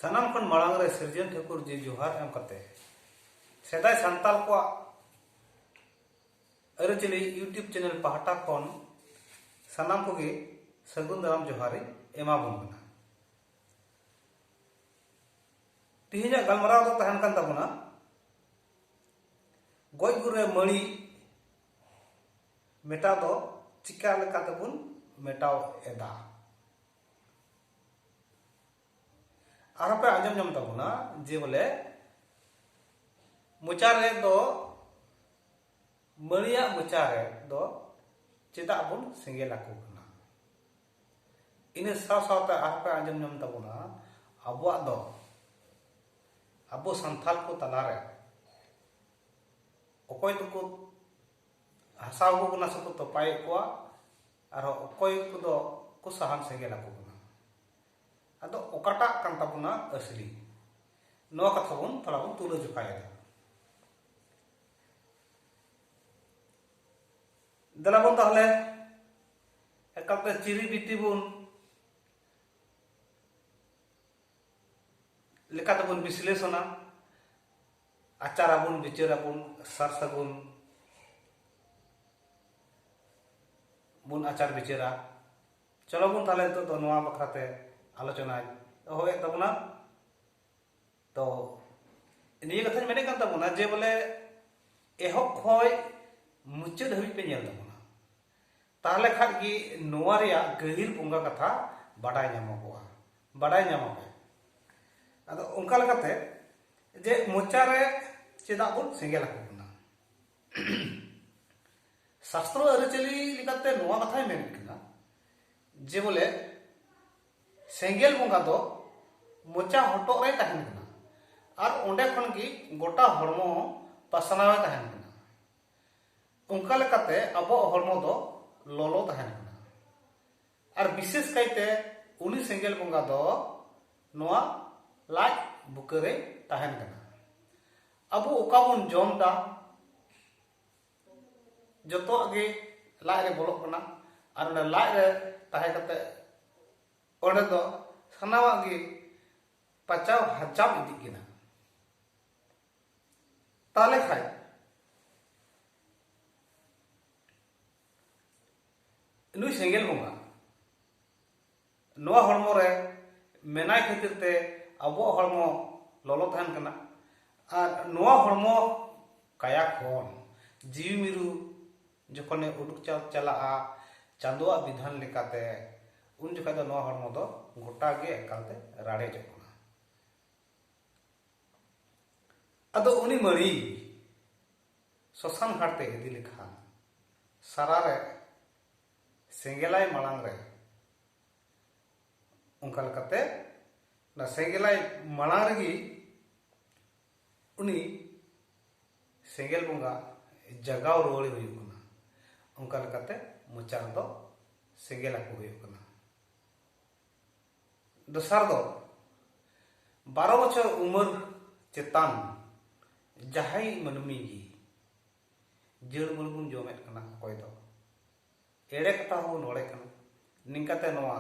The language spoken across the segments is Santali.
ᱥᱟᱱᱟᱢ ᱠᱷᱚᱱ ᱢᱟᱲᱟᱝ ᱨᱮ ᱥᱤᱨᱡᱚᱱ ᱴᱷᱟᱹᱠᱩᱨ ᱡᱤ ᱡᱚᱦᱟᱨ ᱮᱢ ᱠᱟᱛᱮ ᱥᱮᱫᱟᱭ ᱥᱟᱱᱛᱟᱲ ᱠᱚᱣᱟᱜ ᱟᱹᱨᱤᱪᱟᱹᱞᱤ ᱤᱭᱩᱴᱩᱵᱽ ᱪᱮᱱᱮᱞ ᱯᱟᱦᱴᱟ ᱠᱷᱚᱱ ᱥᱟᱱᱟᱢ ᱠᱚᱜᱮ ᱥᱟᱹᱜᱩᱱ ᱫᱟᱨᱟᱢ ᱡᱚᱦᱟᱨᱤᱧ ᱮᱢᱟᱵᱚᱱ ᱠᱟᱱᱟ ᱛᱮᱦᱮᱧᱟᱜ ᱜᱟᱞᱢᱟᱨᱟᱣ ᱫᱚ ᱛᱟᱦᱮᱱ ᱠᱟᱱ ᱛᱟᱵᱚᱱᱟ ᱜᱚᱡ ᱜᱩᱨ ᱨᱮ ᱢᱟᱹᱲᱤ ᱢᱮᱴᱟᱣ ᱫᱚ ᱪᱤᱠᱟ ᱞᱮᱠᱟᱛᱮᱵᱚᱱ ᱢᱮᱴᱟᱣ ᱮᱫᱟ ᱟᱨᱦᱚᱸ ᱯᱮ ᱟᱸᱡᱚᱢ ᱧᱟᱢ ᱛᱟᱵᱚᱱᱟ ᱡᱮ ᱵᱚᱞᱮ ᱢᱚᱪᱟ ᱨᱮ ᱫᱚ ᱢᱟᱹᱨᱤᱭᱟᱜ ᱢᱚᱪᱟ ᱨᱮ ᱫᱚ ᱪᱮᱫᱟᱜ ᱵᱚᱱ ᱥᱮᱸᱜᱮᱞ ᱟᱠᱚ ᱠᱟᱱᱟ ᱤᱱᱟᱹ ᱥᱟᱶ ᱥᱟᱶᱛᱮ ᱟᱨᱦᱚᱸ ᱯᱮ ᱟᱸᱡᱚᱢ ᱧᱟᱢ ᱛᱟᱵᱚᱱᱟ ᱟᱵᱚᱣᱟᱜ ᱫᱚ ᱟᱵᱚ ᱥᱟᱱᱛᱟᱞ ᱠᱚ ᱛᱟᱞᱟᱨᱮ ᱚᱠᱚᱭ ᱫᱚᱠᱚ ᱦᱟᱥᱟᱣ ᱠᱚ ᱠᱟᱱᱟ ᱥᱮᱠᱚ ᱛᱚᱯᱟᱭᱮᱫ ᱠᱚᱣᱟ ᱟᱨᱦᱚᱸ ᱚᱠᱚᱭ ᱠᱚᱫᱚ ᱠᱚ ᱥᱟᱦᱟᱱ ᱥᱮᱸᱜᱮᱞ ᱟᱠᱚ ᱠᱟᱱᱟ ᱟᱫᱚ ᱚᱠᱟᱴᱟᱜ ᱠᱟᱱ ᱛᱟᱵᱚᱱᱟ ᱟᱥᱞᱤ ᱱᱚᱣᱟ ᱠᱟᱛᱷᱟ ᱵᱚᱱ ᱛᱷᱚᱲᱟ ᱵᱚᱱ ᱛᱩᱞᱟᱹ ᱡᱚᱠᱷᱟᱭᱮᱫᱟ ᱫᱮᱞᱟ ᱵᱚᱱ ᱛᱟᱦᱞᱮ ᱮᱠᱟᱞᱛᱮ ᱪᱤᱨᱤ ᱵᱤᱴᱤ ᱵᱚᱱ ᱞᱮᱠᱟᱛᱮᱵᱚᱱ ᱵᱤᱥᱞᱮᱥᱚᱱᱟ ᱟᱪᱟᱨ ᱟᱵᱚᱱ ᱵᱤᱪᱟᱹᱨ ᱟᱵᱚᱱ ᱥᱟᱨ ᱥᱟᱹᱜᱩᱱ ᱵᱚᱱ ᱟᱪᱟᱨ ᱵᱤᱪᱟᱹᱨᱟ ᱪᱚᱞᱚ ᱵᱚᱱ ᱛᱟᱦᱚᱞᱮ ᱱᱤᱛᱚᱜ ᱫᱚ ᱱᱚᱣᱟ ᱵᱟᱠᱷᱨᱟᱛᱮ ᱟᱞᱳᱪᱚᱱᱟᱧ ᱮᱦᱚᱵᱮᱫ ᱛᱟᱵᱚᱱᱟ ᱛᱚ ᱱᱤᱭᱟᱹ ᱠᱟᱛᱷᱟᱧ ᱢᱮᱱᱮᱫ ᱠᱟᱱ ᱛᱟᱵᱚᱱᱟ ᱡᱮ ᱵᱚᱞᱮ ᱮᱦᱚᱵ ᱠᱷᱚᱱ ᱢᱩᱪᱟᱹᱫ ᱦᱟᱹᱵᱤᱡ ᱯᱮ ᱧᱮᱞ ᱛᱟᱵᱚᱱᱟ ᱛᱟᱦᱞᱮ ᱠᱷᱟᱱ ᱜᱮ ᱱᱚᱣᱟ ᱨᱮᱭᱟᱜ ᱜᱟᱹᱦᱤᱨ ᱵᱚᱸᱜᱟ ᱠᱟᱛᱷᱟ ᱵᱟᱰᱟᱭ ᱧᱟᱢᱚᱜᱚᱜᱼᱟ ᱵᱟᱰᱟᱭ ᱧᱟᱢᱚᱜᱼᱟ ᱟᱫᱚ ᱚᱱᱠᱟ ᱞᱮᱠᱟᱛᱮ ᱡᱮ ᱢᱚᱪᱟ ᱨᱮ ᱪᱮᱫᱟᱜ ᱵᱚᱱ ᱥᱮᱸᱜᱮᱞ ᱟᱠᱚ ᱠᱟᱱᱟ ᱥᱟᱥᱛᱨᱚ ᱟᱹᱨᱤᱪᱟᱹᱞᱤ ᱞᱮᱠᱟᱛᱮ ᱱᱚᱣᱟ ᱠᱟᱛᱷᱟᱭ ᱢᱮᱱ ᱠᱟᱱᱟ ᱡᱮ ᱵᱚᱞᱮ ᱥᱮᱸᱜᱮᱞ ᱵᱚᱸᱜᱟ ᱫᱚ ᱢᱚᱪᱟ ᱦᱚᱴᱚᱜ ᱨᱮ ᱛᱟᱦᱮᱱ ᱠᱟᱱᱟ ᱟᱨ ᱚᱸᱰᱮ ᱠᱷᱚᱱ ᱜᱮ ᱜᱚᱴᱟ ᱦᱚᱲᱢᱚ ᱯᱟᱥᱱᱟᱣ ᱮ ᱛᱟᱦᱮᱱ ᱠᱟᱱᱟ ᱚᱱᱠᱟ ᱞᱮᱠᱟᱛᱮ ᱟᱵᱚᱣᱟᱜ ᱦᱚᱲᱢᱚ ᱫᱚ ᱞᱚᱞᱚ ᱛᱟᱦᱮᱱ ᱠᱟᱱᱟ ᱟᱨ ᱵᱤᱥᱮᱥ ᱠᱟᱭᱛᱮ ᱩᱱᱤ ᱥᱮᱸᱜᱮᱞ ᱵᱚᱸᱜᱟ ᱫᱚ ᱱᱚᱣᱟ ᱞᱟᱡ ᱵᱩᱠᱟᱹᱨᱮ ᱛᱟᱦᱮᱱ ᱠᱟᱱᱟ ᱟᱵᱚ ᱚᱠᱟ ᱵᱚᱱ ᱡᱚᱢ ᱫᱟ ᱡᱚᱛᱚᱣᱟᱜ ᱜᱮ ᱞᱟᱡ ᱨᱮ ᱵᱚᱞᱚᱜ ᱠᱟᱱᱟ ᱟᱨ ᱚᱸᱰᱮ ᱞᱟᱡ ᱨᱮ ᱛᱟᱦᱮᱸ ᱠᱟᱛᱮ ᱚᱸᱰᱮ ᱫᱚ ᱥᱟᱱᱟᱢᱟᱜ ᱜᱮ ᱯᱟᱪᱟᱣ ᱦᱟᱡᱟᱢ ᱤᱫᱤᱜ ᱠᱟᱱᱟ ᱛᱟᱦᱞᱮ ᱠᱷᱟᱡ ᱱᱩᱭ ᱥᱮᱸᱜᱮᱞ ᱵᱚᱸᱜᱟ ᱱᱚᱣᱟ ᱦᱚᱲᱢᱚ ᱨᱮ ᱢᱮᱱᱟᱭ ᱠᱷᱟᱹᱛᱤᱨ ᱛᱮ ᱟᱵᱚᱣᱟᱜ ᱦᱚᱲᱢᱚ ᱞᱚᱞᱚ ᱛᱟᱦᱮᱱ ᱠᱟᱱᱟ ᱟᱨ ᱱᱚᱣᱟ ᱦᱚᱲᱢᱚ ᱠᱟᱭᱟ ᱠᱷᱚᱱ ᱡᱤᱣᱤ ᱢᱤᱨᱩ ᱡᱚᱠᱷᱚᱱᱮ ᱩᱰᱩᱠ ᱪᱟᱞᱟᱜᱼᱟ ᱪᱟᱸᱫᱳᱣᱟᱜ ᱵᱤᱫᱷᱟᱱ ᱞᱮᱠᱟᱛᱮ ᱩᱱ ᱡᱚᱠᱷᱟᱡ ᱫᱚ ᱱᱚᱣᱟ ᱦᱚᱲᱢᱚ ᱫᱚ ᱜᱚᱴᱟ ᱜᱮ ᱮᱠᱟᱞᱛᱮ ᱨᱟᱲᱮᱡᱚᱜ ᱠᱟᱱᱟ ᱟᱫᱚ ᱩᱱᱤ ᱢᱟᱹᱨᱤ ᱥᱚᱥᱟᱱ ᱦᱟᱴ ᱛᱮ ᱤᱫᱤ ᱞᱮᱠᱷᱟᱱ ᱥᱟᱨᱟ ᱨᱮ ᱥᱮᱸᱜᱮᱞᱟᱭ ᱢᱟᱲᱟᱝ ᱨᱮ ᱚᱱᱠᱟ ᱞᱮᱠᱟᱛᱮ ᱚᱱᱟ ᱥᱮᱸᱜᱮᱞᱟᱭ ᱢᱟᱲᱟᱝ ᱨᱮᱜᱮ ᱩᱱᱤ ᱥᱮᱸᱜᱮᱞ ᱵᱚᱸᱜᱟ ᱡᱟᱜᱟᱣ ᱨᱩᱣᱟᱹᱲᱮ ᱦᱩᱭᱩᱜ ᱠᱟᱱᱟ ᱚᱱᱠᱟ ᱞᱮᱠᱟᱛᱮ ᱢᱚᱪᱟ ᱨᱮᱫᱚ ᱥᱮᱸᱜᱮᱞ ᱟᱠᱚ ᱦᱩᱭᱩᱜ ᱠᱟᱱᱟ ᱫᱚᱥᱟᱨ ᱫᱚ ᱵᱟᱨᱚ ᱵᱚᱪᱷᱚᱨ ᱩᱢᱮᱨ ᱪᱮᱛᱟᱱ ᱡᱟᱦᱟᱸᱭ ᱢᱟᱹᱱᱢᱤ ᱜᱮ ᱡᱟᱹᱲ ᱢᱟᱹᱲ ᱵᱚᱱ ᱡᱚᱢᱮᱫ ᱠᱟᱱᱟ ᱚᱠᱚᱭ ᱫᱚ ᱮᱲᱮ ᱠᱟᱛᱷᱟ ᱦᱚᱸ ᱱᱚᱲᱮ ᱠᱟᱱᱟ ᱱᱤᱝᱠᱟᱛᱮ ᱱᱚᱣᱟ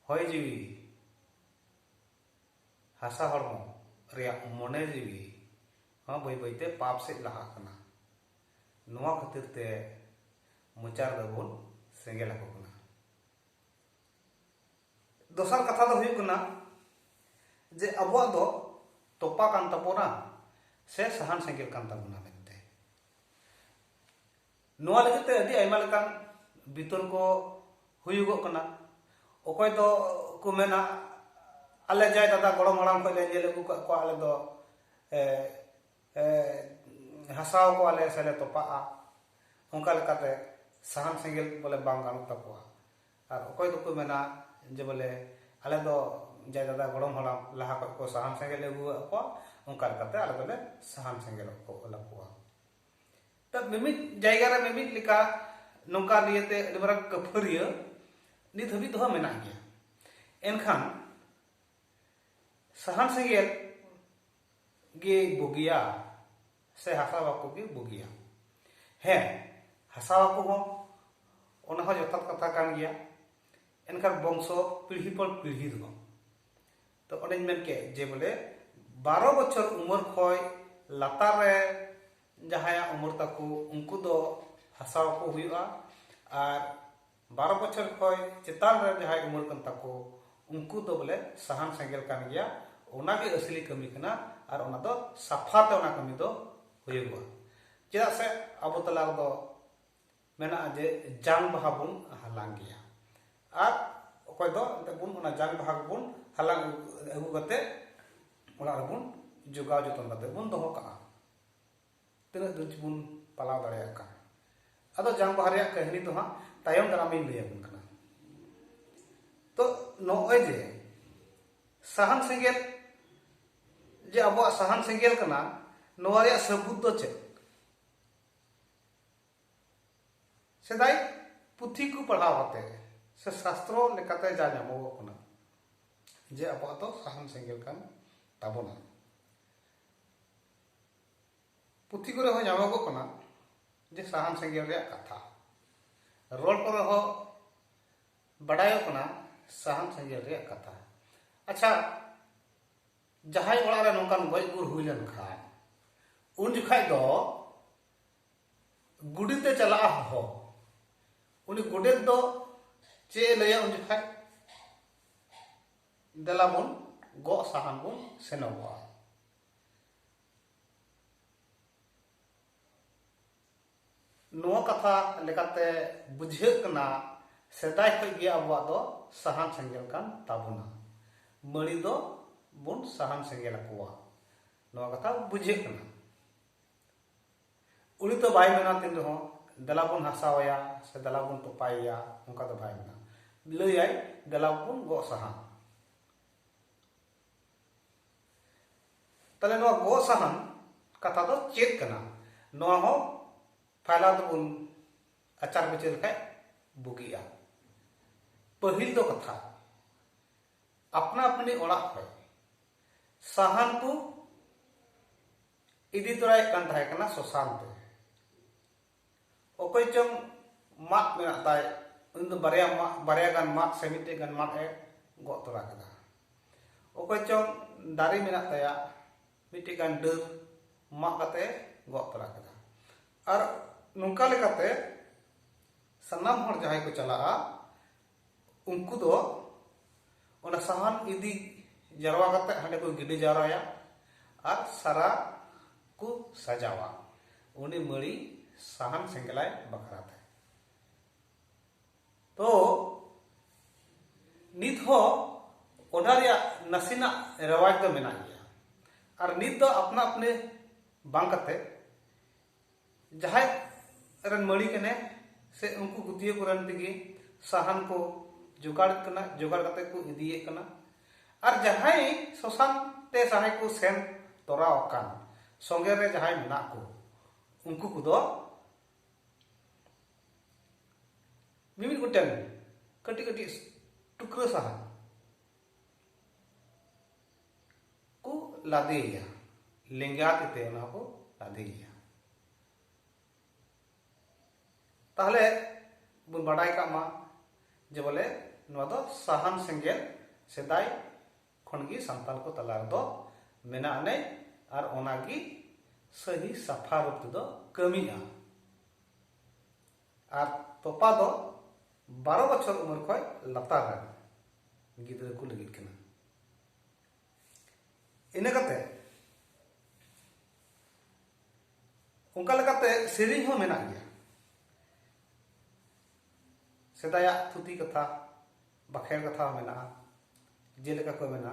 ᱦᱚᱭ ᱡᱤᱣᱤ ᱦᱟᱥᱟ ᱦᱚᱲᱢᱚ ᱨᱮᱭᱟᱜ ᱢᱚᱱᱮ ᱡᱤᱣᱤ ᱦᱚᱸ ᱵᱟᱹᱭ ᱵᱟᱹᱭᱛᱮ ᱯᱟᱯ ᱥᱮᱫ ᱞᱟᱦᱟᱜ ᱠᱟᱱᱟ ᱱᱚᱣᱟ ᱠᱷᱟᱹᱛᱤᱨ ᱛᱮ ᱢᱚᱪᱟ ᱨᱮᱫᱚ ᱵᱚᱱ ᱥᱮᱸᱜᱮᱞ ᱟᱠᱚ ᱠᱟᱱᱟ ᱫᱚᱥᱟᱨ ᱠᱟᱛᱷᱟ ᱫᱚ ᱦᱩᱭᱩᱜ ᱠᱟᱱᱟ ᱡᱮ ᱟᱵᱚᱣᱟᱜ ᱫᱚ ᱛᱚᱯᱟ ᱠᱟᱱ ᱛᱟᱵᱚᱱᱟ ᱥᱮ ᱥᱟᱦᱟᱱ ᱥᱮᱸᱜᱮᱞ ᱠᱟᱱ ᱛᱟᱵᱚᱱᱟ ᱢᱮᱱᱛᱮ ᱱᱚᱣᱟ ᱞᱟᱹᱜᱤᱫ ᱛᱮ ᱟᱹᱰᱤ ᱟᱭᱢᱟ ᱞᱮᱠᱟᱱ ᱵᱤᱛᱚᱨᱠᱚ ᱦᱩᱭᱩᱜᱚᱜ ᱠᱟᱱᱟ ᱚᱠᱚᱭ ᱫᱚ ᱠᱚ ᱢᱮᱱᱟ ᱟᱞᱮ ᱡᱟᱭ ᱫᱟᱫᱟ ᱜᱚᱲᱚᱢ ᱦᱟᱲᱟᱢ ᱠᱷᱚᱱ ᱞᱮ ᱧᱮᱞ ᱟᱹᱜᱩ ᱠᱟᱜ ᱠᱚᱣᱟ ᱟᱞᱮ ᱫᱚ ᱦᱟᱥᱟᱣ ᱠᱚᱣᱟᱞᱮ ᱥᱮᱞᱮ ᱛᱚᱯᱟᱜᱼᱟ ᱚᱱᱠᱟ ᱞᱮᱠᱟᱛᱮ ᱥᱟᱦᱟᱱ ᱥᱮᱸᱜᱮᱞ ᱵᱚᱞᱮ ᱵᱟᱝ ᱜᱟᱱᱚᱜ ᱛᱟᱠᱚᱣᱟ ᱟᱨ ᱚᱠᱚᱭ ᱫᱚᱠᱚ ᱢᱮᱱᱟ ᱡᱮ ᱵᱚᱞᱮ ᱟᱞᱮ ᱫᱚ ᱡᱟᱭ ᱫᱟᱫᱟ ᱜᱚᱲᱚᱢ ᱦᱟᱲᱟᱢ ᱞᱟᱦᱟ ᱠᱷᱚᱱ ᱠᱚ ᱥᱟᱦᱟᱱ ᱥᱮᱸᱜᱮᱞ ᱞᱮ ᱟᱹᱜᱩᱣᱟᱜ ᱠᱚᱣᱟ ᱚᱱᱠᱟ ᱞᱮᱠᱟᱛᱮ ᱟᱞᱮ ᱫᱚᱞᱮ ᱥᱟᱦᱟᱱ ᱥᱮᱸᱜᱮᱞ ᱠᱚ ᱚᱞᱟ ᱠᱚᱣᱟ ᱛᱚ ᱢᱤᱢᱤᱫ ᱡᱟᱭᱜᱟ ᱨᱮ ᱢᱤᱢᱤᱫ ᱞᱮᱠᱟ ᱱᱚᱝᱠᱟ ᱱᱤᱭᱟᱹᱛᱮ ᱟᱹᱰᱤ ᱢᱟᱨᱟᱝ ᱠᱟᱹᱯᱷᱟᱹᱨᱤᱭᱟᱹ ᱱᱤᱛ ᱦᱟᱹᱵᱤᱡ ᱫᱚ ᱢᱮᱱᱟᱜ ᱜᱮᱭᱟ ᱮᱱᱠᱷᱟᱱ ᱥᱟᱦᱟᱱ ᱥᱮᱸᱜᱮᱞ ᱜᱮ ᱵᱩᱜᱤᱭᱟ ᱥᱮ ᱦᱟᱥᱟ ᱵᱟᱠᱚ ᱜᱮ ᱵᱩᱜᱤᱭᱟ ᱦᱮᱸ ᱦᱟᱥᱟ ᱵᱟᱠᱚ ᱦᱚᱸ ᱚᱱᱟ ᱦᱚᱸ ᱡᱚᱛᱷᱟᱛ ᱠᱟᱛᱷᱟ ᱠᱟᱱ ᱜᱮᱭᱟ ᱮᱱᱠᱷᱟᱱ ᱵᱚᱝᱥᱚ ᱯᱤᱲᱦᱤ ᱯᱚᱨ ᱯᱤᱲᱦᱤ ᱫᱚ ᱛᱚ ᱚᱱᱮᱧ ᱢᱮᱱ ᱠᱮᱫ ᱡᱮ ᱵᱚᱞᱮ ᱵᱟᱨᱚ ᱵᱚᱪᱷᱚᱨ ᱩᱢᱮᱨ ᱠᱷᱚᱡ ᱞᱟᱛᱟᱨ ᱨᱮ ᱡᱟᱦᱟᱸᱭᱟᱜ ᱩᱢᱮᱨ ᱛᱟᱠᱚ ᱩᱱᱠᱩ ᱫᱚ ᱦᱟᱥᱟ ᱵᱟᱠᱚ ᱦᱩᱭᱩᱜᱼᱟ ᱟᱨ ᱵᱟᱨᱚ ᱵᱚᱪᱷᱚᱨ ᱠᱷᱚᱡ ᱪᱮᱛᱟᱱ ᱨᱮᱱ ᱡᱟᱦᱟᱸᱭ ᱩᱢᱟᱹᱨ ᱠᱟᱱ ᱛᱟᱠᱚ ᱩᱱᱠᱩ ᱫᱚ ᱵᱚᱞᱮ ᱥᱟᱦᱟᱱ ᱥᱮᱸᱜᱮᱞ ᱠᱟᱱ ᱜᱮᱭᱟ ᱚᱱᱟᱜᱮ ᱟᱥᱞᱤ ᱠᱟᱹᱢᱤ ᱠᱟᱱᱟ ᱟᱨ ᱚᱱᱟ ᱫᱚ ᱥᱟᱯᱷᱟ ᱛᱮ ᱚᱱᱟ ᱠᱟᱹᱢᱤ ᱫᱚ ᱦᱩᱭᱩᱜᱚᱜᱼᱟ ᱪᱮᱫᱟᱜ ᱥᱮ ᱟᱵᱚ ᱛᱟᱞᱟ ᱨᱮᱫᱚ ᱢᱮᱱᱟᱜᱼᱟ ᱡᱮ ᱡᱟᱝ ᱵᱟᱦᱟ ᱵᱚᱱ ᱦᱟᱞᱟᱝ ᱜᱮᱭᱟ ᱟᱨ ᱚᱠᱚᱭ ᱫᱚ ᱮᱱᱛᱮ ᱵᱚᱱ ᱚᱱᱟ ᱡᱟᱝ ᱵᱟᱦᱟ ᱵᱚᱱ ᱦᱟᱞᱟᱝ ᱟᱹᱜᱩ ᱠᱟᱛᱮ ᱚᱲᱟᱜ ᱨᱮᱵᱚᱱ ᱡᱚᱜᱟᱣ ᱡᱚᱛᱚᱱ ᱠᱟᱛᱮ ᱵᱚᱱ ᱫᱚᱦᱚ ᱠᱟᱜᱼᱟ ᱛᱤᱱᱟᱹᱜ ᱫᱷᱟᱹᱨᱤᱡ ᱵᱚᱱ ᱯᱟᱞᱟᱣ ᱫᱟᱲᱮᱭᱟᱜ ᱠᱟᱱ ᱟᱫᱚ ᱡᱟᱝ ᱵᱟᱦᱟ ᱨᱮᱭᱟᱜ ᱠᱟᱹᱦᱱᱤ ᱫᱚ ᱦᱟᱸᱜ ᱛᱟᱭᱚᱢ ᱫᱟᱨᱟᱢ ᱤᱧ ᱞᱟᱹᱭ ᱟᱵᱚᱱ ᱠᱟᱱᱟ ᱛᱚ ᱱᱚᱜᱼᱚᱭ ᱡᱮ ᱥᱟᱦᱟᱱ ᱥᱮᱸᱜᱮᱞ ᱡᱮ ᱟᱵᱚᱣᱟᱜ ᱥᱟᱦᱟᱱ ᱥᱮᱸᱜᱮᱞ ᱠᱟᱱᱟ ᱱᱚᱣᱟ ᱨᱮᱭᱟᱜ ᱥᱟᱹᱵᱩᱛ ᱫᱚ ᱪᱮᱫ ᱥᱮᱫᱟᱭ ᱯᱩᱛᱷᱤ ᱠᱚ ᱯᱟᱲᱦᱟᱣ ᱠᱟᱛᱮ ᱥᱮ ᱥᱟᱥᱛᱨᱚ ᱞᱮᱠᱟᱛᱮ ᱡᱟ ᱧᱟᱢᱚᱜᱚᱜ ᱠᱟᱱᱟ ᱡᱮ ᱟᱵᱚᱣᱟᱜ ᱫᱚ ᱥᱟᱦᱟᱱ ᱥᱮᱸᱜᱮᱞ ᱠᱟᱱ ᱛᱟᱵᱚᱱᱟ ᱯᱩᱛᱷᱤ ᱠᱚᱨᱮ ᱦᱚᱸ ᱧᱟᱢᱚᱜᱚᱜ ᱠᱟᱱᱟ ᱡᱮ ᱥᱟᱦᱟᱱ ᱥᱮᱸᱜᱮᱞ ᱨᱮᱭᱟᱜ ᱠᱟᱛᱷᱟ ᱨᱚᱲ ᱠᱚᱨᱮ ᱦᱚᱸ ᱵᱟᱰᱟᱭᱚᱜ ᱠᱟᱱᱟ ᱥᱟᱦᱟᱱ ᱥᱮᱸᱜᱮᱞ ᱨᱮᱭᱟᱜ ᱠᱟᱛᱷᱟ ᱟᱪᱪᱷᱟ ᱡᱟᱦᱟᱸᱭ ᱚᱲᱟᱜ ᱨᱮ ᱱᱚᱝᱠᱟᱱ ᱜᱚᱡ ᱜᱩᱨ ᱦᱩᱭ ᱞᱮᱱᱠᱷᱟᱱ ᱩᱱ ᱡᱚᱠᱷᱟᱡ ᱫᱚ ᱜᱩᱰᱤᱛᱮ ᱪᱟᱞᱟᱜᱼᱟ ᱦᱚᱦᱚ ᱩᱱᱤ ᱜᱚᱰᱮᱛ ᱫᱚ ᱪᱮᱫ ᱮ ᱞᱟᱹᱭᱟ ᱩᱱ ᱡᱚᱠᱷᱟᱡ ᱫᱮᱞᱟ ᱵᱚᱱ ᱜᱚᱜ ᱥᱟᱦᱟᱱ ᱵᱚᱱ ᱥᱮᱱᱚᱜᱚᱜᱼᱟ ᱱᱚᱣᱟ ᱠᱟᱛᱷᱟ ᱞᱮᱠᱟᱛᱮ ᱵᱩᱡᱷᱟᱹᱜ ᱠᱟᱱᱟ ᱥᱮᱫᱟᱭ ᱠᱷᱚᱱ ᱜᱮ ᱟᱵᱚᱣᱟᱜ ᱫᱚ ᱥᱟᱦᱟᱱ ᱥᱮᱸᱜᱮᱞ ᱠᱟᱱ ᱛᱟᱵᱚᱱᱟ ᱢᱟᱹᱲᱤ ᱫᱚ ᱵᱚᱱ ᱥᱟᱦᱟᱱ ᱥᱮᱸᱜᱮᱞ ᱟᱠᱚᱣᱟ ᱱᱚᱣᱟ ᱠᱟᱛᱷᱟ ᱵᱩᱡᱷᱟᱹᱜ ᱠᱟᱱᱟ ᱩᱱᱤ ᱫᱚ ᱵᱟᱭ ᱢᱮᱱᱟ ᱛᱤᱱ ᱨᱮᱦᱚᱸ ᱫᱮᱞᱟ ᱵᱚᱱ ᱦᱟᱥᱟᱣᱟᱭᱟ ᱥᱮ ᱫᱮᱞᱟ ᱵᱚᱱ ᱛᱚᱯᱟᱭᱮᱭᱟ ᱚᱱᱠᱟ ᱫᱚ ᱵᱟᱭ ᱢᱮᱱᱟ ᱞᱟᱹᱭᱟᱭ ᱫᱮᱞᱟ ᱵᱚᱱ ᱜᱚᱜ ᱥᱟᱦᱟᱱ ᱛᱟᱦᱞᱮ ᱱᱚᱣᱟ ᱜᱚ ᱥᱟᱦᱟᱱ ᱠᱟᱛᱷᱟ ᱫᱚ ᱪᱮᱫ ᱠᱟᱱᱟ ᱱᱚᱣᱟ ᱦᱚᱸ ᱯᱷᱟᱭᱞᱟ ᱫᱚᱵᱚᱱ ᱟᱪᱟᱨ ᱵᱤᱪᱟᱹᱨ ᱞᱮᱠᱷᱟᱡ ᱵᱩᱜᱤᱜᱼᱟ ᱯᱟᱹᱦᱤᱞ ᱫᱚ ᱠᱟᱛᱷᱟ ᱟᱯᱱᱟ ᱟᱯᱱᱤ ᱚᱲᱟᱜ ᱠᱷᱚᱡ ᱥᱟᱦᱟᱱ ᱠᱚ ᱤᱫᱤ ᱛᱚᱨᱟᱭᱮᱫ ᱠᱟᱱ ᱛᱟᱦᱮᱸ ᱠᱟᱱᱟ ᱥᱚᱥᱟᱱ ᱛᱮ ᱚᱠᱚᱭ ᱪᱚᱝ ᱢᱟᱫ ᱢᱮᱱᱟᱜ ᱛᱟᱭ ᱩᱱᱤ ᱫᱚ ᱵᱟᱨᱭᱟ ᱢᱟᱫ ᱵᱟᱨᱭᱟ ᱜᱟᱱ ᱢᱟᱫ ᱥᱮ ᱢᱤᱫᱴᱮᱡ ᱜᱟᱱ ᱢᱟᱫ ᱮ ᱜᱚᱜ ᱛᱚᱨᱟ ᱠᱮᱫᱟ ᱚᱠᱚᱭ ᱪᱚᱝ ᱫᱟᱨᱮ ᱢᱮᱱᱟᱜ ᱛᱟᱭᱟ ᱢᱤᱫᱴᱮᱡ ᱜᱟᱱ ᱰᱟᱹᱨ ᱢᱟᱜ ᱠᱟᱛᱮ ᱜᱚᱜ ᱛᱚᱨᱟ ᱠᱮᱫᱟ ᱟᱨ ᱱᱚᱝᱠᱟ ᱞᱮᱠᱟᱛᱮ ᱥᱟᱱᱟᱢ ᱦᱚᱲ ᱡᱟᱦᱟᱸᱭ ᱠᱚ ᱪᱟᱞᱟᱜᱼᱟ ᱩᱱᱠᱩ ᱫᱚ ᱚᱱᱟ ᱥᱟᱦᱟᱱ ᱤᱫᱤ ᱡᱟᱨᱣᱟ ᱠᱟᱛᱮ ᱦᱟᱸᱰᱮ ᱠᱚ ᱜᱤᱰᱤ ᱡᱟᱣᱨᱟᱭᱟ ᱟᱨ ᱥᱟᱨᱟ ᱠᱚ ᱥᱟᱡᱟᱣᱟ ᱩᱱᱤ ᱢᱟᱹᱲᱤ ᱥᱟᱦᱟᱱ ᱥᱮᱸᱜᱮᱞᱟᱭ ᱵᱟᱠᱷᱨᱟ ᱛᱮ ᱛᱚ ᱱᱤᱛ ᱦᱚᱸ ᱚᱱᱟ ᱨᱮᱭᱟᱜ ᱱᱟᱥᱮᱱᱟᱜ ᱨᱮᱣᱟᱡᱽ ᱫᱚ ᱢᱮᱱᱟᱜ ᱜᱮᱭᱟ ᱟᱨ ᱱᱤᱛ ᱫᱚ ᱟᱯᱱᱟ ᱟᱯᱱᱤ ᱵᱟᱝ ᱠᱟᱛᱮ ᱡᱟᱦᱟᱸᱭ ᱨᱮᱱ ᱢᱟᱹᱲᱤ ᱠᱟᱱᱮ ᱥᱮ ᱩᱱᱠᱩ ᱜᱩᱛᱤᱭᱟᱹ ᱠᱚᱨᱮᱱ ᱛᱮᱜᱮ ᱥᱟᱦᱟᱱ ᱠᱚ ᱡᱚᱜᱟᱲ ᱠᱟᱱᱟ ᱡᱚᱜᱟᱲ ᱠᱟᱛᱮ ᱠᱚ ᱤᱫᱤᱭᱮ ᱠᱟᱱᱟ ᱟᱨ ᱡᱟᱦᱟᱸᱭ ᱥᱚᱥᱟᱱ ᱛᱮ ᱡᱟᱦᱟᱸᱭ ᱠᱚ ᱥᱮᱱ ᱛᱚᱨᱟ ᱟᱠᱟᱱ ᱥᱚᱸᱜᱮ ᱨᱮ ᱡᱟᱦᱟᱸᱭ ᱢᱮᱱᱟᱜ ᱠᱚ ᱩᱱᱠᱩ ᱠᱚᱫᱚ ᱢᱤᱢᱤᱫ ᱜᱚᱴᱮᱱ ᱠᱟᱹᱴᱤᱡ ᱠᱟᱹᱴᱤᱡ ᱴᱩᱠᱨᱟᱹ ᱥᱟᱦᱟᱱ ᱠᱚ ᱞᱟᱫᱮᱭᱟ ᱞᱮᱸᱜᱟ ᱛᱤ ᱛᱮ ᱚᱱᱟ ᱠᱚ ᱞᱟᱫᱮᱭᱟ ᱛᱟᱦᱞᱮ ᱵᱚᱱ ᱵᱟᱰᱟᱭ ᱠᱟᱜ ᱢᱟ ᱡᱮ ᱵᱚᱞᱮ ᱱᱚᱣᱟ ᱫᱚ ᱥᱟᱦᱟᱱ ᱥᱮᱸᱜᱮᱞ ᱥᱮᱫᱟᱭ ᱠᱷᱚᱱ ᱜᱮ ᱥᱟᱱᱛᱟᱲ ᱠᱚ ᱛᱟᱞᱟ ᱨᱮᱫᱚ ᱢᱮᱱᱟᱜ ᱟᱹᱱᱤᱡ ᱟᱨ ᱚᱱᱟ ᱜᱮ ᱥᱟᱹᱦᱤ ᱥᱟᱯᱷᱟ ᱨᱩᱯ ᱛᱮᱫᱚ ᱠᱟᱹᱢᱤᱜᱼᱟ ᱟᱨ ᱛᱚᱯᱟ ᱫᱚ ᱵᱟᱨᱚ ᱵᱚᱪᱷᱚᱨ ᱩᱢᱮᱨ ᱠᱷᱚᱱ ᱞᱟᱛᱟᱨ ᱨᱮᱱ ᱜᱤᱫᱽᱨᱟᱹ ᱠᱚ ᱞᱟᱹᱜᱤᱫ ᱠᱟᱱᱟ ᱤᱱᱟᱹ ᱠᱟᱛᱮ ᱚᱱᱠᱟ ᱞᱮᱠᱟᱛᱮ ᱥᱮᱨᱮᱧ ᱦᱚᱸ ᱢᱮᱱᱟᱜ ᱜᱮᱭᱟ ᱥᱮᱫᱟᱭᱟᱜ ᱛᱷᱩᱛᱤ ᱠᱟᱛᱷᱟ ᱵᱟᱠᱷᱮᱲ ᱠᱟᱛᱷᱟ ᱦᱚᱸ ᱢᱮᱱᱟᱜᱼᱟ ᱡᱮᱞᱮᱠᱟ ᱠᱚ ᱢᱮᱱᱟ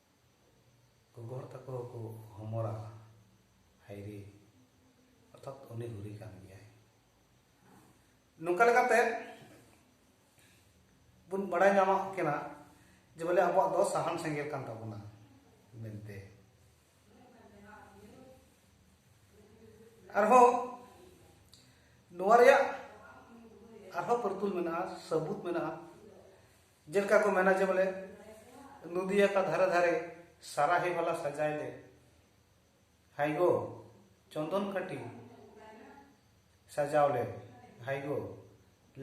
ᱜᱚᱜᱚ ᱦᱚᱲ ᱛᱟᱠᱚ ᱦᱚᱸᱠᱚ ᱦᱚᱢᱚᱨᱟ ᱦᱟᱭᱨᱮ ᱚᱨᱛᱷᱟᱛ ᱩᱱᱤ ᱦᱩᱨᱤ ᱠᱟᱱ ᱜᱮᱭᱟᱭ ᱱᱚᱝᱠᱟ ᱞᱮᱠᱟᱛᱮ ᱵᱚᱱ ᱵᱟᱲᱟᱭ ᱧᱟᱢᱚᱜ ᱠᱟᱱᱟ ᱡᱮ ᱵᱚᱞᱮ ᱟᱵᱚᱣᱟᱜ ᱫᱚ ᱥᱟᱦᱟᱱ ᱥᱮᱸᱜᱮᱞ ᱠᱟᱱ ᱛᱟᱵᱚᱱᱟ ᱢᱮᱱᱛᱮ ᱟᱨᱦᱚᱸ ᱱᱚᱣᱟ ᱨᱮᱭᱟᱜ ᱟᱨᱦᱚᱸ ᱯᱟᱹᱨᱛᱩᱞ ᱢᱮᱱᱟᱜᱼᱟ ᱥᱟᱹᱵᱩᱛ ᱢᱮᱱᱟᱜᱼᱟ ᱡᱮᱞᱮᱠᱟ ᱠᱚ ᱢᱮᱱᱟ ᱡᱮ ᱵᱚᱞᱮ ᱱᱚᱫᱤᱭᱟ ᱠᱟ ᱫᱷᱟᱨᱮ ᱫᱷᱟᱨᱮ ᱥᱟᱨᱟᱦᱮ ᱵᱟᱞᱟ ᱥᱟᱡᱟᱭ ᱞᱮ ᱦᱟᱭᱜᱳ ᱪᱚᱱᱫᱚᱱ ᱠᱟᱹᱴᱤ ᱥᱟᱡᱟᱣ ᱞᱮ ᱦᱟᱭᱜᱳ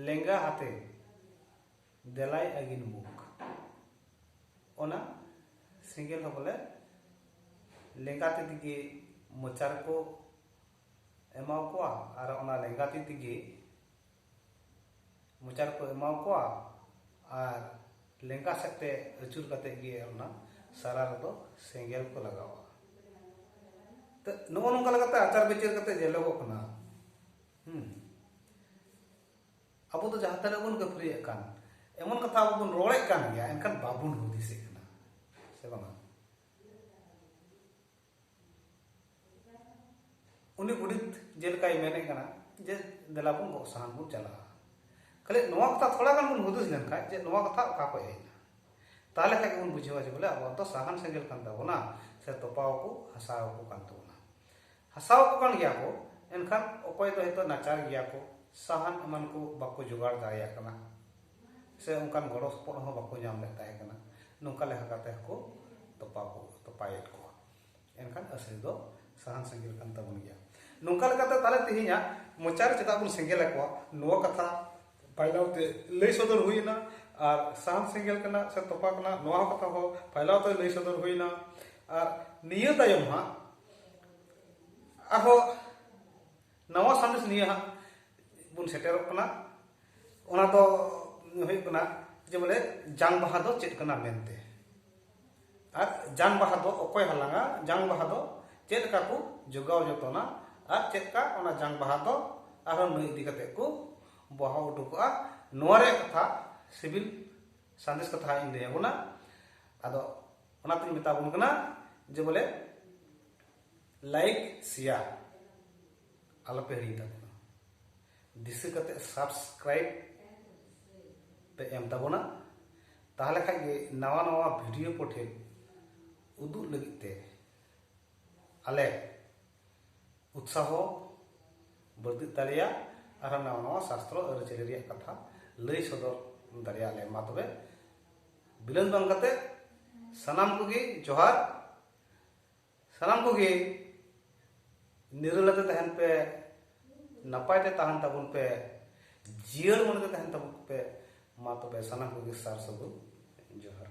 ᱞᱮᱸᱜᱟ ᱦᱟᱛᱮ ᱫᱮᱞᱟᱭ ᱟᱹᱜᱤᱱ ᱢᱩᱠ ᱚᱱᱟ ᱥᱤᱸᱜᱮᱞ ᱦᱚᱸ ᱵᱚᱞᱮ ᱞᱮᱸᱜᱟ ᱛᱤ ᱛᱮᱜᱮ ᱢᱚᱪᱟ ᱨᱮᱠᱚ ᱮᱢᱟᱣ ᱠᱚᱣᱟ ᱟᱨ ᱚᱱᱟ ᱞᱮᱸᱜᱟ ᱛᱤ ᱛᱮᱜᱮ ᱢᱚᱪᱟ ᱨᱮᱠᱚ ᱮᱢᱟ ᱠᱚᱣᱟ ᱟᱨ ᱞᱮᱸᱜᱟ ᱥᱮᱫ ᱛᱮ ᱟᱹᱪᱩᱨ ᱠᱟᱛᱮ ᱜᱮ ᱚᱱᱟ ᱥᱟᱨᱟ ᱨᱮᱫᱚ ᱥᱮᱸᱜᱮᱞ ᱠᱚ ᱞᱟᱜᱟᱣᱟ ᱛᱚ ᱱᱚᱜᱼᱚ ᱱᱚᱝᱠᱟ ᱞᱮᱠᱟᱛᱮ ᱟᱪᱟᱨ ᱵᱤᱪᱟᱹᱨ ᱠᱟᱛᱮ ᱧᱮᱞᱚᱜᱚᱜ ᱠᱟᱱᱟ ᱦᱩᱸ ᱟᱵᱚ ᱫᱚ ᱡᱟᱦᱟᱸ ᱛᱤᱱᱟᱹᱜ ᱵᱚᱱ ᱠᱟᱹᱯᱷᱨᱤᱭᱮᱫ ᱠᱟᱱ ᱮᱢᱚᱱ ᱠᱟᱛᱷᱟ ᱟᱵᱚ ᱵᱚᱱ ᱨᱚᱲᱮᱫ ᱠᱟᱱ ᱜᱮᱭᱟ ᱮᱱᱠᱷᱟᱱ ᱵᱟᱵᱚᱱ ᱦᱩᱫᱤᱥᱮᱫ ᱠᱟᱱᱟ ᱥᱮ ᱵᱟᱝᱟ ᱩᱱᱤ ᱜᱚᱰᱮᱛ ᱡᱮᱞᱮᱠᱟᱭ ᱢᱮᱱᱮᱫ ᱠᱟᱱᱟ ᱡᱮ ᱫᱮᱞᱟ ᱵᱚᱱ ᱜᱚᱜ ᱥᱟᱦᱟᱱ ᱵᱚᱱ ᱪᱟᱞᱟᱜᱼᱟ ᱠᱷᱟᱹᱞᱤ ᱱᱚᱣᱟ ᱠᱟᱛᱷᱟ ᱛᱷᱚᱲᱟ ᱜᱟᱱ ᱵᱚᱱ ᱦᱩᱫᱤᱥ ᱞᱮᱱᱠᱷᱟᱱ ᱡᱮ ᱱᱚᱣᱟ ᱠᱟᱛᱷᱟ ᱚᱠᱟ ᱠᱷᱚᱱ ᱦᱮᱡ ᱮᱱᱟ ᱛᱟᱦᱚᱞᱮ ᱠᱷᱟᱱ ᱜᱮᱵᱚᱱ ᱵᱩᱡᱷᱟᱹᱣᱟ ᱡᱮ ᱵᱚᱞᱮ ᱟᱵᱚᱣᱟᱜ ᱫᱚ ᱥᱟᱦᱟᱱ ᱥᱮᱸᱜᱮᱞ ᱠᱟᱱ ᱛᱟᱵᱚᱱᱟ ᱥᱮ ᱛᱚᱯᱟᱣ ᱠᱚ ᱦᱟᱥᱟᱣ ᱠᱚ ᱠᱟᱱ ᱛᱟᱵᱚᱱᱟ ᱦᱟᱥᱟᱣ ᱠᱚ ᱠᱟᱱ ᱜᱮᱭᱟ ᱠᱚ ᱮᱱᱠᱷᱟᱱ ᱚᱠᱚᱭ ᱫᱚ ᱦᱚᱭᱛᱳ ᱱᱟᱪᱟᱨ ᱜᱮᱭᱟ ᱠᱚ ᱥᱟᱦᱟᱱ ᱮᱢᱟᱱ ᱠᱚ ᱵᱟᱠᱚ ᱡᱚᱜᱟᱲ ᱫᱟᱲᱮᱭᱟᱜ ᱠᱟᱱᱟ ᱥᱮ ᱚᱱᱠᱟᱱ ᱜᱚᱲᱚ ᱥᱚᱯᱚᱦᱚᱫ ᱦᱚᱸ ᱵᱟᱠᱚ ᱧᱟᱢ ᱞᱮᱫ ᱛᱟᱦᱮᱸ ᱠᱟᱱᱟ ᱱᱚᱝᱠᱟ ᱞᱮᱠᱟ ᱠᱟᱛᱮ ᱦᱚᱸᱠᱚ ᱛᱚᱯᱟ ᱠᱚ ᱛᱚᱯᱟᱭᱮᱫ ᱠᱚᱣᱟ ᱮᱱᱠᱷᱟᱱ ᱟᱹᱥᱤᱨ ᱫᱚ ᱥᱟᱦᱟᱱ ᱥᱮᱸᱜᱮᱞ ᱠᱟᱱ ᱛᱟᱵᱚᱱ ᱜᱮᱭᱟ ᱱᱚᱝᱠᱟ ᱞᱮᱠᱟᱛᱮ ᱛᱟᱦᱞᱮ ᱛᱮᱦᱮᱧᱟᱜ ᱢᱚᱪᱟ ᱨᱮ ᱪᱮᱫᱟᱜ ᱵᱚᱱ ᱥᱮᱸᱜᱮᱞ ᱟᱠᱚᱣᱟ ᱱᱚᱣᱟ ᱠᱟᱛᱷᱟ ᱯᱟᱭᱞᱟᱣ ᱛᱮ ᱞᱟᱹᱭ ᱥᱚᱫᱚᱨ ᱦᱩᱭᱱᱟ ᱟᱨ ᱥᱟᱦᱟᱱ ᱥᱮᱸᱜᱮᱞ ᱠᱟᱱᱟ ᱥᱮ ᱛᱚᱯᱟ ᱠᱟᱱᱟ ᱱᱚᱣᱟ ᱦᱚᱸ ᱠᱟᱛᱷᱟ ᱦᱚᱸ ᱯᱟᱭᱞᱟᱣ ᱛᱮ ᱞᱟᱹᱭ ᱥᱚᱫᱚᱨ ᱦᱩᱭᱱᱟ ᱟᱨ ᱱᱤᱭᱟᱹ ᱛᱟᱭᱚᱢ ᱦᱟᱸᱜ ᱟᱨᱦᱚᱸ ᱱᱟᱣᱟ ᱥᱟᱸᱫᱮᱥ ᱱᱤᱭᱟᱹ ᱦᱟᱸᱜ ᱵᱚᱱ ᱥᱮᱴᱮᱨᱚᱜ ᱠᱟᱱᱟ ᱚᱱᱟ ᱫᱚ ᱦᱩᱭᱩᱜ ᱠᱟᱱᱟ ᱡᱮ ᱵᱚᱞᱮ ᱡᱟᱝ ᱵᱟᱦᱟ ᱫᱚ ᱪᱮᱫ ᱠᱟᱱᱟ ᱢᱮᱱᱛᱮ ᱟᱨ ᱡᱟᱝ ᱵᱟᱦᱟ ᱫᱚ ᱚᱠᱚᱭ ᱦᱟᱞᱟᱝᱟ ᱡᱟᱝ ᱵᱟᱦᱟ ᱫᱚ ᱪᱮᱫ ᱞᱮᱠᱟ ᱠᱚ ᱡᱚᱜᱟᱣ ᱡᱚᱛᱚᱱᱟ ᱟᱨ ᱪᱮᱫ ᱞᱮᱠᱟ ᱚᱱᱟ ᱡᱟᱝ ᱵᱟᱦᱟ ᱫᱚ ᱟᱨᱦᱚᱸ ᱱᱩᱭ ᱤᱫᱤ ᱠᱟᱛᱮ ᱠᱚ ᱵᱟᱦᱟ ᱩᱰᱩᱠᱚᱜᱼᱟ ᱱᱚᱣᱟ ᱨᱮᱭᱟᱜ ᱠᱟᱛᱷᱟ ᱥᱤᱵᱤᱞ ᱥᱟᱸᱫᱮᱥ ᱠᱟᱛᱷᱟ ᱤᱧ ᱞᱟᱹᱭ ᱟᱵᱚᱱᱟ ᱟᱫᱚ ᱚᱱᱟᱛᱤᱧ ᱢᱮᱛᱟ ᱵᱚᱱ ᱠᱟᱱᱟ ᱡᱮ ᱵᱚᱞᱮ ᱞᱟᱭᱤᱠ ᱥᱮᱭᱟᱨ ᱟᱞᱚᱯᱮ ᱦᱤᱲᱤᱧ ᱛᱟᱵᱚᱱᱟ ᱫᱤᱥᱟᱹ ᱠᱟᱛᱮ ᱥᱟᱵᱥᱠᱨᱟᱭᱤᱵ ᱯᱮ ᱮᱢ ᱛᱟᱵᱚᱱᱟ ᱛᱟᱦᱚᱞᱮ ᱠᱷᱟᱡ ᱜᱮ ᱱᱟᱣᱟ ᱱᱟᱣᱟ ᱵᱷᱤᱰᱤᱭᱳ ᱠᱚ ᱴᱷᱮᱱ ᱩᱫᱩᱜ ᱞᱟᱹᱜᱤᱫ ᱛᱮ ᱟᱞᱮ ᱩᱛᱥᱟᱦᱚ ᱵᱟᱹᱲᱛᱤᱜ ᱛᱟᱞᱮᱭᱟ ᱟᱨ ᱱᱟᱣᱟ ᱱᱟᱣᱟ ᱥᱟᱥᱛᱨᱚ ᱟᱹᱨᱤᱪᱟᱹᱞᱤ ᱨᱮᱭᱟᱜ ᱠᱟᱛᱷᱟ ᱞᱟᱹᱭ ᱥᱚᱫᱚᱨ ᱫᱟᱲᱮᱭᱟᱜ ᱞᱮ ᱢᱟ ᱛᱚᱵᱮ ᱵᱤᱞᱚᱢ ᱵᱟᱝ ᱠᱟᱛᱮ ᱥᱟᱱᱟᱢ ᱠᱚᱜᱮ ᱡᱚᱦᱟᱨ ᱥᱟᱱᱟᱢ ᱠᱚᱜᱮ ᱱᱤᱨᱟᱹᱞᱟᱛᱮ ᱛᱟᱦᱮᱱ ᱯᱮ ᱱᱟᱯᱟᱭ ᱛᱮ ᱛᱟᱦᱮᱱ ᱛᱟᱵᱚᱱ ᱯᱮ ᱡᱤᱭᱟᱹᱲ ᱢᱚᱱᱮ ᱛᱮ ᱛᱟᱦᱮᱱ ᱛᱟᱵᱚᱱ ᱯᱮ ᱢᱟ ᱛᱚᱵᱮ ᱥᱟᱱᱟᱢ ᱠᱚᱜᱮ ᱥᱟᱨ ᱥᱟᱹᱜᱩᱱ ᱡᱚᱦᱟᱨ